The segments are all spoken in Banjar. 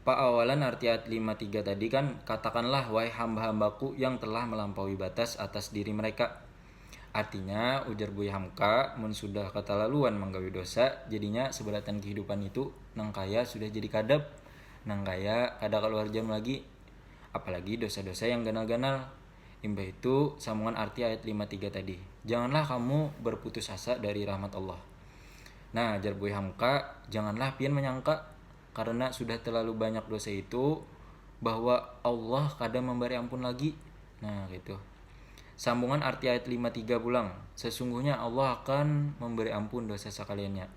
Paawalan arti ayat lima tiga tadi kan, Katakanlah, wahai hamba-hamba-Ku yang telah melampaui batas atas diri mereka. Artinya, ujar Buya Hamka, mun sudah katalaluan manggawi dosa, jadinya seberataan kehidupan itu nang kaya sudah jadi kadap, nang kaya kada kaluar jam lagi. Apalagi dosa-dosa yang ganal-ganal. Imbah itu, sambungan arti ayat lima tiga tadi, Janganlah kamu berputus asa dari rahmat Allah. Nah, jar Buya Hamka, janganlah pian manyangka. karena sudah terlalu banyak dosa itu bahwa Allah kada memberi ampun lagi nah gitu sambungan arti ayat 53 pulang sesungguhnya Allah akan memberi ampun dosa sekaliannya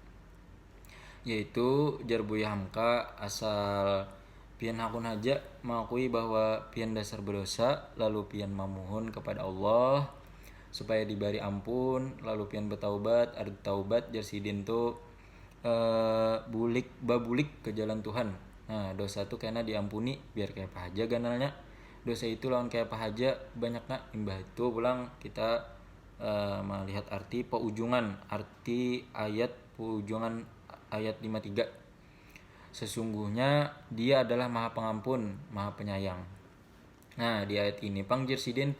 yaitu jar Buya Hamka asal pian hakun haja mengakui bahwa pian dasar berdosa lalu pian memohon kepada Allah supaya diberi ampun lalu pian bertaubat ada taubat jar sidin tu uh, bulik babulik ke jalan Tuhan. Nah, dosa tu kena diampuni biar kayak apa aja ganalnya. Dosa itu lawan kayak apa aja banyak nak imbah itu pulang kita uh, melihat arti peujungan arti ayat peujungan ayat 53 sesungguhnya dia adalah maha pengampun maha penyayang Nah, di ayat ini pang jer sidin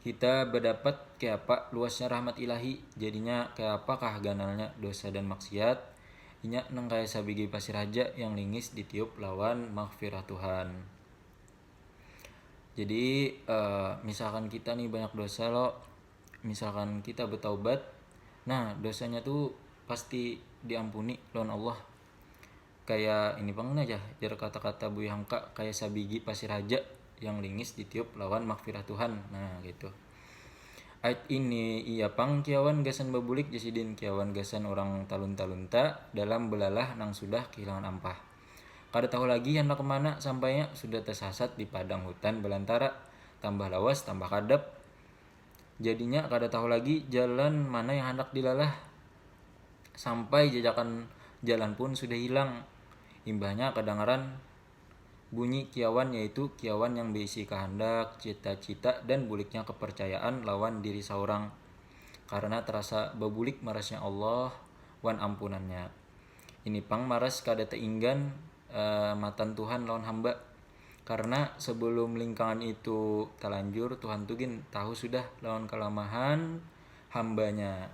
kita berdapat kayak apa luasnya rahmat ilahi jadinya kayak apakah ganalnya dosa dan maksiat inya nang kaya sabigi pasir haja yang lingis ditiup lawan maghfirah Tuhan jadi uh, misalkan kita nih banyak dosa lo misalkan kita bertaubat nah dosanya tuh pasti diampuni lawan Allah kaya ini pang nah jar, jar kata-kata Buya Hangka kaya sabigi pasir haja yang lingis ditiup lawan makfirah Tuhan nah kaitu. Ait ini iya pang kiawan gasan babulik jar sidin kiawan gasan urang talunta-lunta dalam belalah nang sudah kehilangan ampah. Kada tahu lagi handak kemana sampainya sudah tasasat di padang hutan balantara, tambah lawas tambah kadap, Jadinya kada tahu lagi jalan mana yang handak dilalah. Sampai jajakan jalan pun sudah hilang. Imbahnya kadangaran bunyi kiawan yaitu kiawan yang beisi kahandak, cita-cita, dan buliknya kepercayaan lawan diri saurang karena terasa babulik marasnya Allah wan ampunannya. Ini pang maras kada teinggan uh, matan Tuhan lawan hamba. Karena sebelum lingkangan itu terlanjur, Tuhan tuh gin tahu sudah lawan kelemahan hambanya.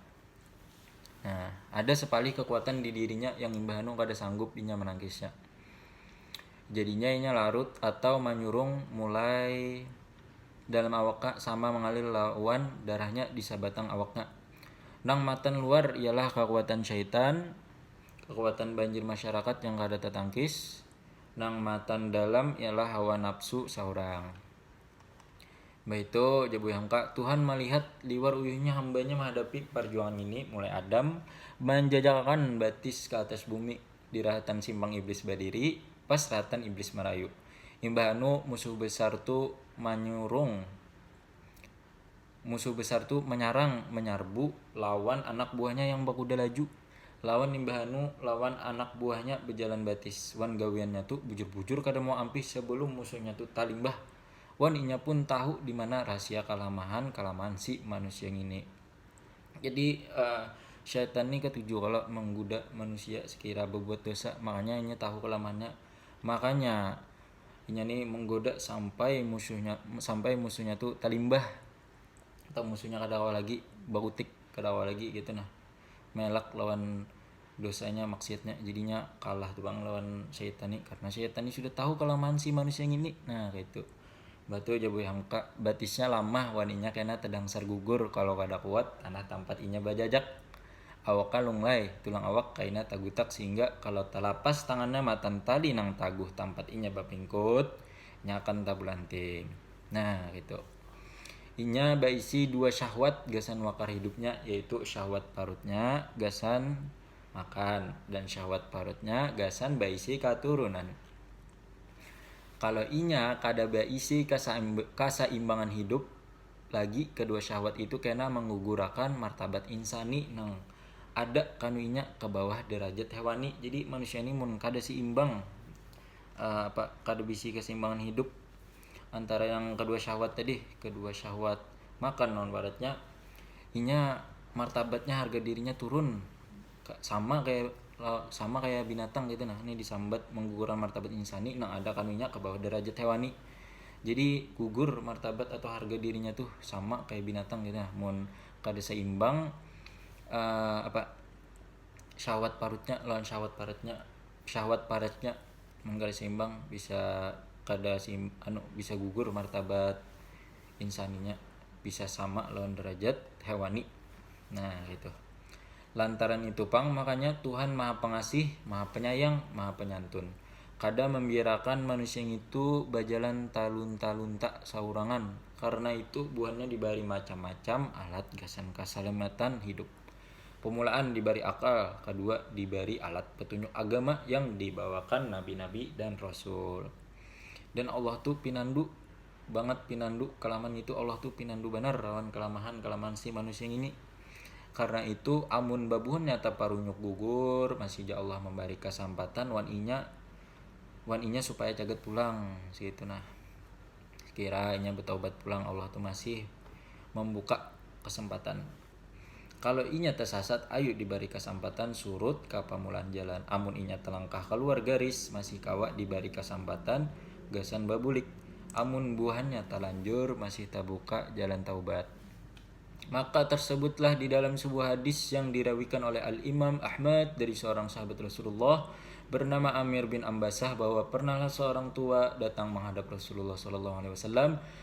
Nah, ada sepalih kekuatan di dirinya yang imbah anu kada sanggup inya menangkisnya. Jadinya inya larut atau menyurung mulai dalam awaknya sama mengalir lawan darahnya di sabatang awaknya. Nang matan luar ialah kekuatan syaitan, Kakuatan banjir masyarakat yang kada tatangkis nang matan dalam ialah hawa napsu saurang. Imbah itu, ujar Buya Hamka, Tuhan malihat liwar uyuhnya hambanya mahadapi parjuangan ngini, mulai Adam manjajakakan batis ka atas bumi di rahatan simpang Iblis badiri, pas rahatan Iblis marayu. Imbah anu, musuh besar tu manyurung. Musuh besar tu manyarang, manyarbu lawan anak buahnya yang bakuda laju, lawan imbah anu lawan anak buahnya bejalan batis, wan gawiannya tu bujur-bujur kada mau ampih sebelum musuhnya tu talimbah, wan inya pun tahu dimana rahasia kalamahan-kalamahan si manusia ngini. Jadi syaitan ni katuju kalo menggoda manusia sekira bebuat dosa, makanya inya tahu kalamahannya, makanya. inya ni menggoda sampai musuhnya sampai musuhnya tu talimbah atau musuhnya kada kawa lagi bautik kada kawa lagi gitu nah melak lawan dosanya maksiatnya jadinya kalah tu pang lawan saitan ni karena saitan ni sudah tahu kelemahan si manusia ngini nah kaitu batu ja buih angka batisnya lamah wan inya kena tedangsar gugur kalo kada kuat tanah tampat inya bajajak. Awaknya lunglai, tulang awak kaina tagutak sihingga kalau talapas tangannya matan tali nang taguh tampat inya bapingkut, nya akan tabulanting. Nah, kaitu. Inya baisi dua syahwat gasan wakar hidupnya, yaitu syahwat parutnya gasan makan dan syahwat parutnya gasan baisi katurunan. Kalau inya kada baisi kasaimbangan hidup, lagi kadua syahwat itu kena manggugurakan martabat insani nang ada kanuinya ka bawah darajat hewani jadi manusia ni mun kada seimbang um apa kada bisi keseimbangan hidup antara yang kedua syahwat tadi kedua syahwat makan ibaratnya inya martabatnya harga dirinya turun. sama kayak sama kayak binatang gitu nah ini disambat mengguguran martabat insani nang ada kanunya ke bawah derajat hewani jadi gugur martabat atau harga dirinya tuh sama kayak binatang gitu nah mun kada seimbang uh, apa syahwat parutnya lawan syahwat paratnya syahwat paratnya mun kada seimbang bisa kada seim, anu bisa gugur martabat insaninya bisa sama lawan derajat hewani nah gitu Lantaran itu pang makanya Tuhan maha pengasih, maha penyayang, maha penyantun. Kada mambiarakan manusia ngitu bajalan talunta-lunta saurangan, karna itu buhannya dibari macam-macam alat gasan kasalamatan hidup. Pamulaan dibari akal, kadua dibari alat petunjuk agama yang dibawakan nabi-nabi dan rasul. Dan Allah tu pinandu. bangat pinandu kalaman ngitu Allah tu pinandu banar lawan kalamahan kalamahan si manusia ngini karna itu amun babuhan nyata parunyuk gugur masih ja Allah mambari kasampatan wan inya wan inya supaya cagat pulang segitu nah sekira inya bataubat pulang Allah tu masih mambuka kesempatan. Kalo inya tasasat, ayu dibari kasampatan surut ka pamulaan jalan. Amun inya talangkah kaluar garis, masih kawa dibari kasampatan gasan babulik. Amun buhannya talanjur, masih tabuka jalan taubat. Maka tarsebutlah di dalam sebuah hadis yang dirawikan oleh Al-Imam Ahmad dari seorang sahabat Rasulullah bernama Amir bin Ambasah bahwa pernahlah seorang tua datang menghadap Rasulullah sallallahu alaihi wasallam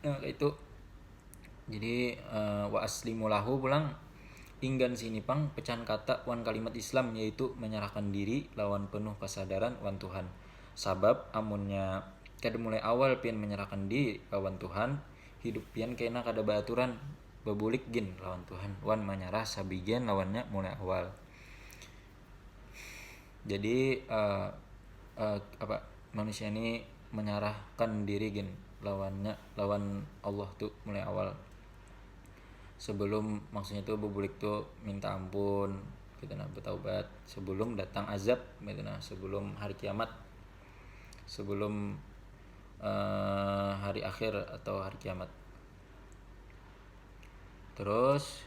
nah itu jadi uh, wa aslimu lahu pulang inggan sini pang pecahan kata wan kalimat Islam yaitu menyerahkan diri lawan penuh kesadaran wan Tuhan sabab amunnya kada mulai awal pian menyerahkan diri lawan Tuhan hidup pian kena kada beraturan bebulik gin lawan Tuhan wan menyerah sabigian lawannya mulai awal jadi uh, uh, apa manusia ini menyerahkan diri gin lawannya lawan Allah tuh mulai awal sebelum maksudnya tuh bubulik tuh minta ampun gitu nah bertaubat sebelum datang azab gitu nah sebelum hari kiamat sebelum uh, hari akhir atau hari kiamat terus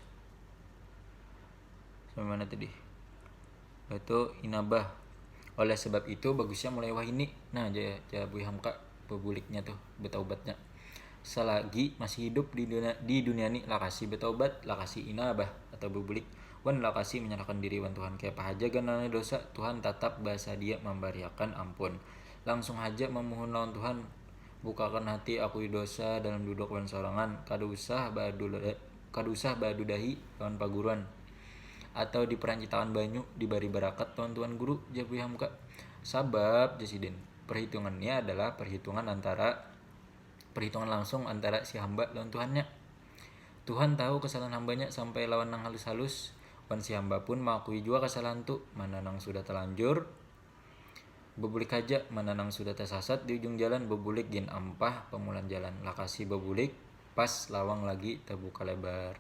sampai mana tadi itu inabah oleh sebab itu bagusnya mulai wahini nah aja aja Bui Hamka bebuliknya tuh betaubatnya selagi masih hidup di dunia, di dunia ini lakasi betaubat lakasi inabah atau bebulik wan lakasi menyerahkan diri wan Tuhan kaya apa haja ganalnya dosa Tuhan tatap basadia mambariakan ampun langsung haja memohon lawan Tuhan bukakan hati aku dosa dalam duduk wan sorangan kada usah baadu kada usah badudahi lawan paguruan atau di perancitaan banyu dibari barakat lawan tuan guru, jar Buya Hamka. Sabab, jar sidin, perhitungan nia adalah perhitungan antara perhitungan langsung antara si hamba lawan Tuhannya. Tuhan tahu kesalahan hambanya sampai lawan nang halus-halus, wan si hamba pun maakui jua kesalahan tu, mana nang sudah talanjur, Bebulik haja, mana nang sudah tasasat di ujung jalan bebulik gin ampah pamulaan jalan, lakasi babulik pas lawang lagi tabuka lebar.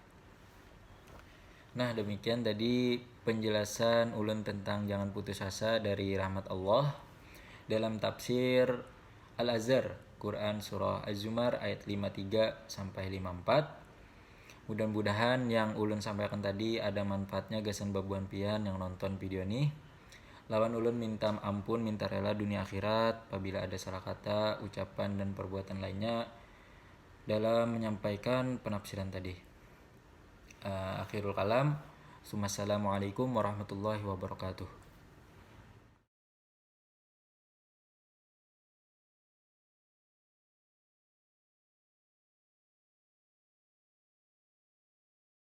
Nah demikian tadi penjelasan ulun tentang jangan putus asa dari rahmat Allah dalam tafsir Al Azhar Quran surah Az-Zumar ayat 53 sampai 54. Mudah-mudahan yang ulun sampaikan tadi ada manfaatnya gasan babuhan pian yang nonton video nih. Lawan ulun minta ampun minta rela dunia akhirat pabila ada salah kata, ucapan dan perbuatan lainnya dalam menyampaikan penafsiran tadi. Akhirul kalam. Sumassalamualaikum warahmatullahi wabarakatuh.